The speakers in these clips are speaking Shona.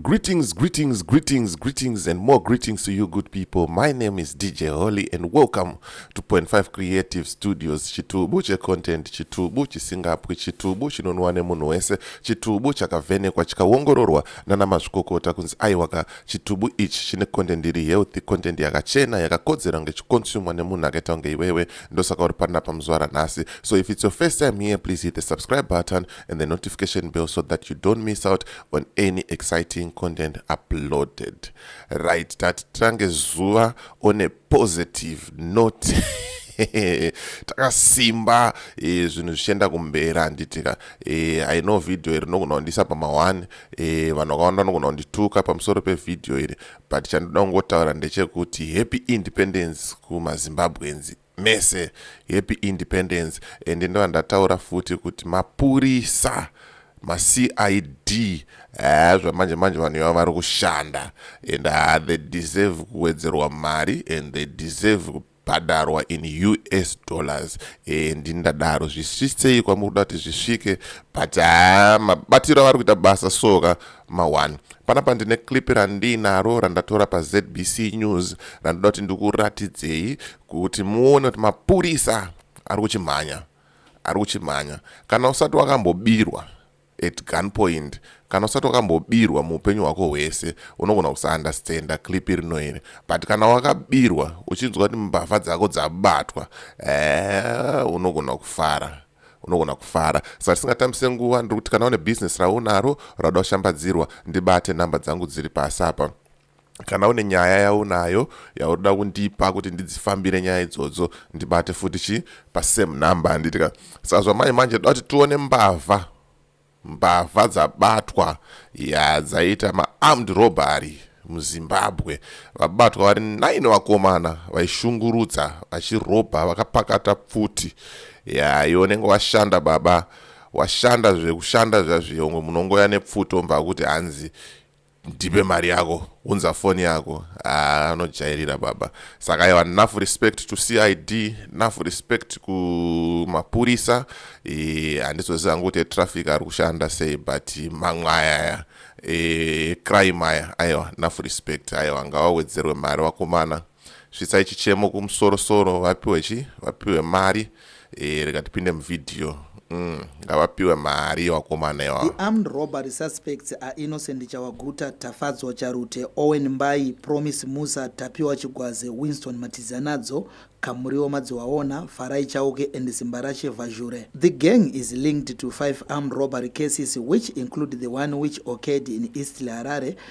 Greetings, greetings, greetings, greetings, and more greetings to you, good people. My name is DJ Holly, and welcome to Point Five Creative Studios. Chitubu che content, chitubu chisingapwi, chitubu chinonwa nemunhu wese, chitubu chakavhenekwa chikaongororwa nana mazvikokota kunzi aiwaka chitubu ichi chine content iri healthy, content yakachena yakakodzera kunge chikonsumwa nemunhu akaita kunge iwewe. Ndosaka uri panapa muzuva ranhasi. So if it's your first time here, please hit the subscribe button and the notification bell so that you don't miss out on any exciting content uploaded right tati titange zuva on a positive note takasimba eh, zvinhu zvichienda kumbera handitika eh, i know video iri nogona kundisa pama one eh, vanhu vakawanda vanogona kundituka pamusoro pevhidhiyo iri but chandoda kungotaura ndechekuti happy independence kumazimbabwenzi mese happy independence and ndovandataura futi kuti mapurisa macid eh, zvamanje manje vanhu ivavo vari kushanda and uh, they deserve kuwedzerwa mari and they deserve kubhadharwa in us dollars eh, ndindadaro zvisvisei kwamuri kuda kuti zvisvike but haa ah, mabatiro avari kuita basa soka ma one panapa ndine clip randiinaro randatora pazbc news randoda kuti ndikuratidzei kuti muone kuti mapurisa ari kuchimhanya ari kuchimhanya kana usati wakambobirwa at gun point kana usati wakambobirwa muupenyu hwako hwese unogona kusaunderstanda clip rino iri but kana wakabirwa uchinzwa kuti mbavha dzako dzabatwa ee eh, unogona kufara unogona kufara saka tisingatambise nguva ndiri kuti kana une bhizinesi raunaro rauda kushambadzirwa ndibate nhamba dzangu dziri pasi apa kana une nyaya yaunayo yaunoda kundipa kuti ndidzifambire nyaya idzodzo ndibate futi chi pasame number handitika saka zvamanje manje toda kuti tione mbavha Mbavha dzabatwa ya dzaita maarmed robbery muzimbabwe vabatwa vari 9 vakomana vaishungurudza vachirobha vakapakata pfuti yaiwo nenge washanda baba washanda zvekushanda zvazviyo ngo munongoya nepfuti ombva kuti hanzi ndipe mari yako unza foni yako ah, anojairira baba saka aiwa nough respect to cid nough respect kumapurisa eh, handizoziva hangu kuti etraffic ari kushanda sei but mamwe ayaya eh, crime aya aiwa nough respect aiwa ngawawedzerwe mari wakomana Svitsai chichemo kumusoro soro vapiwe chi vapiwe mari eh, rega tipinde muvideo mm, ngavapiwe mm, mari vakomana iwa. The armed robbery suspects are innocent Chawaguta, Tafadzwa Charute, Owen Mbai, Promise Musa, Tapiwa Chigwaze, Winston Matizanadzo, Kamuriwo Madziwaona, Farai Chauke and Simbarashe Vazhure. The gang is linked to five armed robbery cases which include the one which occurred in East Harare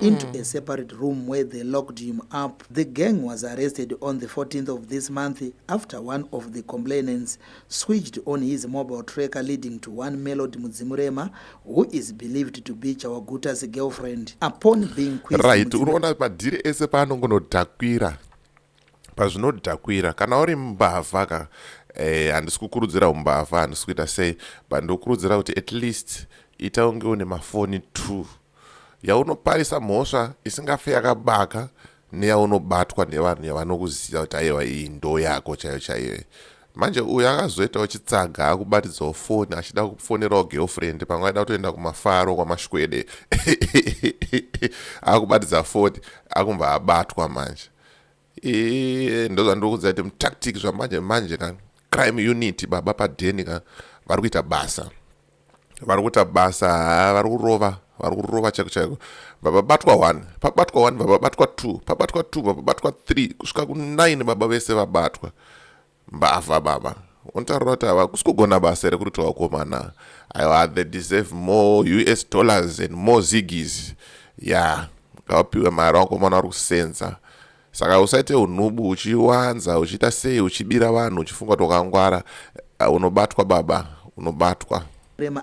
into mm. a separate room where they locked him up. The gang was arrested on the 14th of this month after one of the complainants switched on his mobile tracker leading to one Melody Mudzimurema who is believed to be Chawaguta's girlfriend upon being quizzed. Right, unoona madhiri ese paanongonodhakwira pazvinodhakwira kana uri mbavha ka eh, handisi eh, kukurudzira umbavha handisi kuita sei but ndokurudzira kuti at least ita unge une mafoni two yaunoparisa mhosva isingafe yakabaka neyaunobatwa nevanhu yavanokuziva kuti aiwa iyi ndo yako chaiyo chaiyo manje uyu akazoitawo chitsaga akubatidzawo foni achida kufonerawo girlfriend pamwe aida kutoenda kumafaro kwamashwede akubatidza foni akumbva abatwa manje ee ndozvandiri kuziva kuti mutactic zvamanje manje ka crime unit baba padeni ka vari kuita basa vari kuita basa haa vari kurova vari kurova chaiko chaiko vababatwa one pabatwa one vababatwa two pabatwa two vababatwa three kusvika kunine baba vese vabatwa Mbavha baba. Unotaura kuti ava kusi kugona basa here kurita wakomana. Aiwa they deserve more US dollars and more ziggies. Yeah, ngavapiwe mari wakomana vari kusenza. Saka usaite unubu uchiwanza uchiita sei uchibira vanhu uchifunga kuti wakangwara. Uh, unobatwa baba, unobatwa. Rema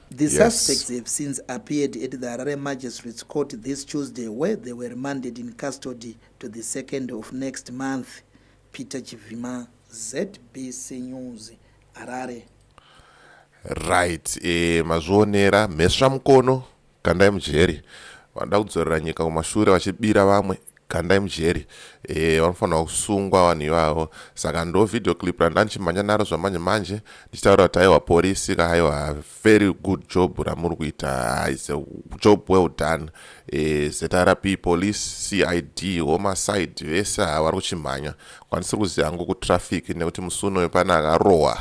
The yes. suspects have since appeared at the Harare Magistrates Court this Tuesday where they were remanded in custody to the 2nd of next month. Peter Chivima, ZBC News, Harare. Right, eh, mazvionera mhesva mukono kandai mujeri vanoda kudzorera nyika kumashure vachibira vamwe kandai mujeri eh, vanofanirwa kusungwa vanhu ivavo saka ndo video clip randandichimhanya naro zvamanje manje ndichitaura kuti aiwa porisi ka aiwa very good job ramuri kuita is a job well done eh, zrp police cid homicide vese haa vari kuchimhanya kwanisiri kuziva hangu kutraffic nekuti musi unoyo pane akarohwa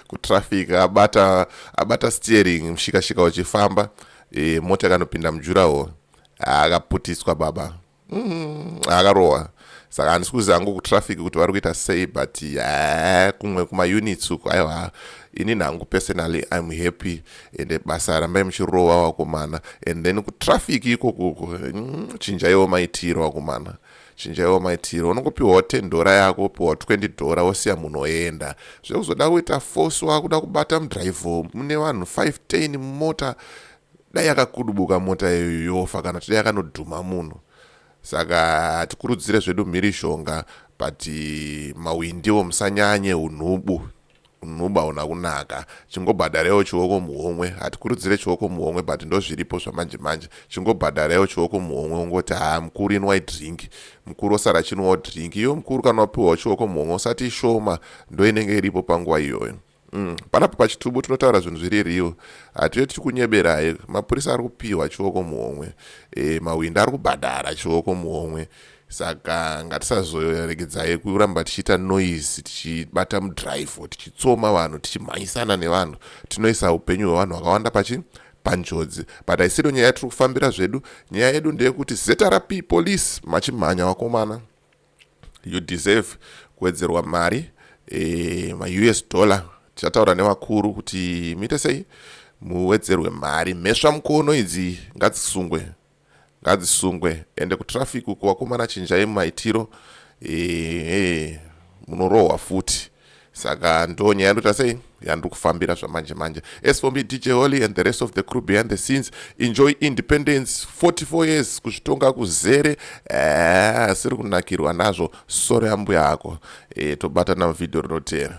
kutraffic abata abata steering mushikashika uchifamba eh, mota ikanopinda mujurawo akaputiswa baba mm, akarohwa saka handisi kuziva hangu kutraffic kuti vari kuita sei but ha kumwe kumaunits uku aiwa ini nhangu personally im happy ende basa rambai muchirova wakomana and then kutraffic ikokuku mm, chinjaiwo maitiro wakomana chinjaiwo maitiro unongopiwawo 10 dhora yako opiwawo 20 dhora wosiya munhu oenda zvekuzoda kuita force wakuda kubata mudrive mune vanhu 5 10 mumota dai yakakudubuka mota iyoyo yofa kana kuti dai yakanodhuma munhu saka hatikurudzire zvedu mhirishonga but mawindiwo musanyanye unhubu unhubu hauna kunaka chingobhadharewo chioko muhomwe hatikurudzire chioko muhomwe but ndozviripo zvamanje manje chingobhadharewo chioko muhomwe ungoti haa mukuru inwai drink mukuru osara chinwawo drink iyo mukuru kana wapiwawo chioko muhomwe usati ishoma ndoinenge iripo panguva iyoyo Mm, panapa pachitubu tinotaura zvinhu zviri real hatiyo tiri kunyeberai mapurisa ari kupiwa chioko muhomwe e, mawindi ari kubhadhara chioko muhomwe saka ngatisazoregedzai kuramba tichiita noise tichibata mudrive tichitsoma vanhu tichimhanyisana nevanhu tinoisa upenyu hwevanhu vakawanda pachi panjodzi but aisido nyaya yatiri kufambira zvedu nyaya yedu ndeyekuti zrp police machimhanya wakomana you deserve kuwedzerwa mari e, maus dollar tichataura nevakuru kuti muite sei muwedzerwe mari mhesva mukono idzi ngadzisungwe ngadzisungwe ende kutraffic uko wakomana chinjai mumaitiro e, e, munorohwa futi saka ndo nyaya ndoita sei yandiri kufambira zvamanje manje as for me dj holy and the rest of the crew behind the scenes enjoy independence 44 years kuzvitonga kuzere eh, asiri kunakirwa nazvo sore ambuya ako e, tobatana muvhidhiyo rinoteera